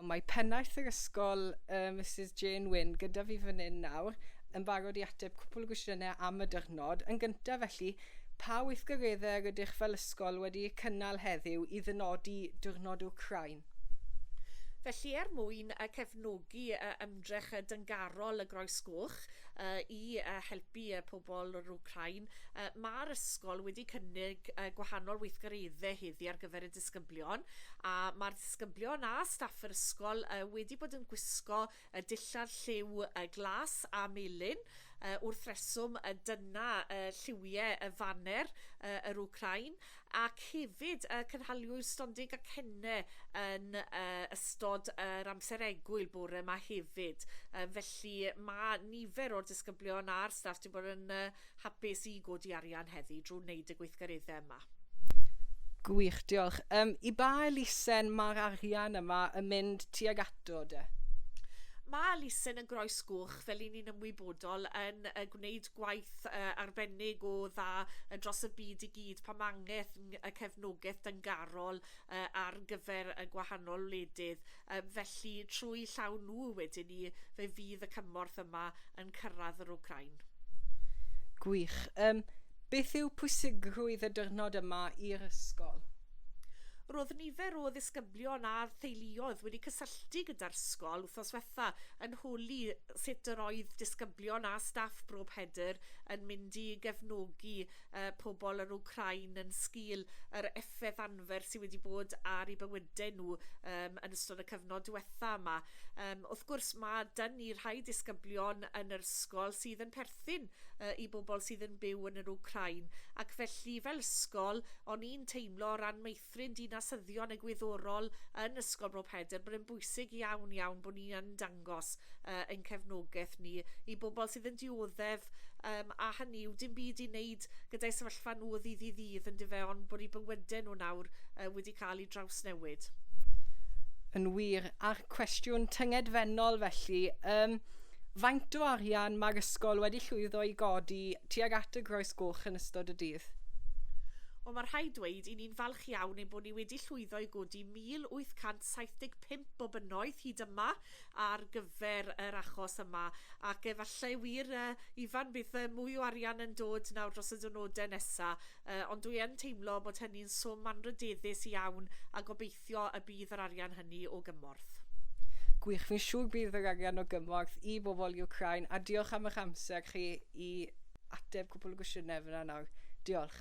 Mae pennaeth yr ysgol, uh, Mrs Jane Wynne, gyda fi fan hyn nawr, yn barod i ateb cwpl o gwestiynau am y dyrnod. Yn gyntaf felly, pa weithgareddau rydych fel ysgol wedi eu cynnal heddiw i ddynodi Dyrnod Wcrain? Felly, er mwyn cefnogi ymdrech dyngarol y Groes Goch i helpu pobl yr Wcrain, mae'r ysgol wedi cynnig gwahanol weithgareddau heddi ar gyfer y disgyblion a mae'r disgyblion a staff yr ysgol uh, wedi bod yn gwisgo y dillad lliw uh, glas a melyn uh, wrth reswm y dyna uh, lliwiau y faner uh, yr Ukrain ac hefyd uh, cynhaliwyd stonding a cenne yn uh, ystod yr uh, amser egwyl bore yma hefyd. Uh, felly mae nifer o'r disgyblion a'r staff wedi bod yn uh, Hapus i godi arian heddi drw wneud y gweithgaredde yma. Gwych, diolch. Um, I ba elusen mae'r arian yma yn mynd tuag ato de? Mae elusen yn groes gwch, fel i ni'n ymwybodol, yn uh, gwneud gwaith uh, arbennig o dda uh, dros y byd i gyd pan mae angen y cefnogaeth dyngarol uh, ar gyfer y gwahanol wledydd. Yym, felly, trwy 'u llaw nhw, wedyn 'ny, fe fydd y cymorth yma yn cyrraedd yr Wcráin. Gwych. Yym, beth yw pwysigrwydd y dyrnod yma i'r ysgol? Roedd nifer o ddisgyblion a theuluoedd wedi cysylltu gyda'r sgol wthnos wetha yn holi sut yr oedd disgyblion a staff Bro Pedr yn mynd i gefnogi yy pobl yr Wcráin yn sgil yr effeth arfer sydd wedi bod ar eu bywydau nhw um, yn ystod y cyfnod diwetha yma. Um, wrth gwrs, mae dyn ni rhai disgyblion yn yr ysgol sydd yn perthyn uh, i bobl sydd yn byw yn yr Ukrain, ac felly fel ysgol, o'n i'n teimlo o ran meithrin dinasyddion y gwyddorol yn Ysgol Bro Pedr bod yn bwysig iawn iawn bod ni yn dangos ddangos uh, ein cefnogaeth ni i bobl sydd yn dioddef um, a hynny yw dim byd i wneud gyda'i sefyllfa nhw o ddydd i ddydd yn dyfe ond bod i bywydau nhw nawr uh, wedi cael ei drawsnewid. Yn wir, a'r cwestiwn tyngedfennol felly, um, faint o arian mae'r ysgol wedi llwyddo i godi tuag at y groes goch yn ystod y dydd? Wel, mae rhaid dweud i ni'n falch iawn ein bod ni wedi llwyddo i godi 1,875 o bunnoedd hyd yma ar gyfer yr achos yma, ac efallai wir, yy, Ifan, bydd yy, mwy o arian yn dod nawr dros y diwrnodau nesa', yy, ond dwi yn teimlo bod hynny'n swm anrydeddus iawn, a gobeithio y bydd yr arian hynny o gymorth. Gwych, fi'n siŵr bydd yr arian o gymorth i bobl Iwcrain, a diolch am eich amser chi i ateb cwpwl o gwestiynau fan'na nawr. Diolch.